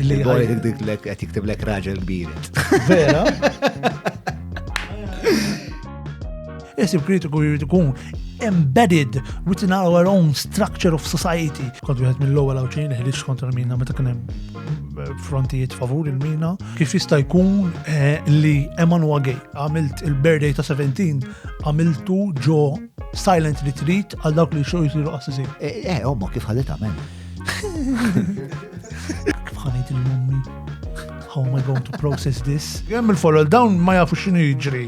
Li għajdik dik lek qed jiktib lek raġel biret. Vera? Isib kritiku jrid ikun embedded within our own structure of society. Kont wieħed mill-ewwel għawċin li ħriġ kontra l-mina meta kien hemm eh, frontijiet favur il-mina. Kif jista' jkun eh, li Emmanuel Gay għamilt il-birthday ta' 17 għamiltu ġo silent retreat għal dawk li xo jisiru qassisin. Eh, eh omma kif ħadet għamel. Bħanajt il-mummi. How am I going to process this? Jem il-folol dawn ma jafu xinu jġri.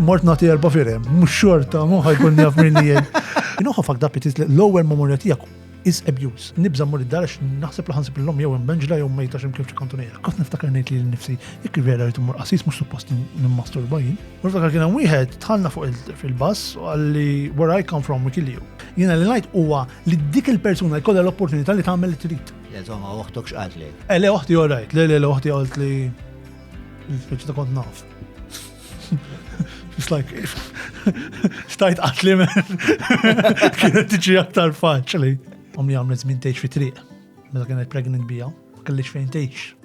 Mort nati erba firem, mux xorta, muħa jkun jaf minni jen. Inuħa fak dapit l-lower memoria tijak is abuse. Nibza mur id-dar għax naħseb laħan sib l-lom jew imbenġla jew mejta xem kif ċikontu nejra. Kot niftakar nejt li l-nifsi, jek vera rritu mur qasis mux suppost n-masturba jien. Mur ftakar kien wieħed tħanna fuq fil-bas għalli where I come from we kill you. Jena li najt huwa li dik il-persuna jkollha l-opportunità li tagħmel li trid. Le żomma oħtok x'qalt li. Eh le oħti orajt, le le le oħti qalt li speċi ta' kont naf. It's like stajt qatli men. Kienet tiġi aktar faċli. Ommi għamlet żmien tgħix fi triq. Meta kienet pregnant bija, ma kellix fejn tgħix.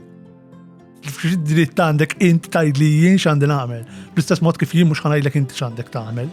Dritt għandek int tajd li jien x'għandi nagħmel. Bl-istess mod kif jien mhux ħanajdlek inti x'għandek tagħmel.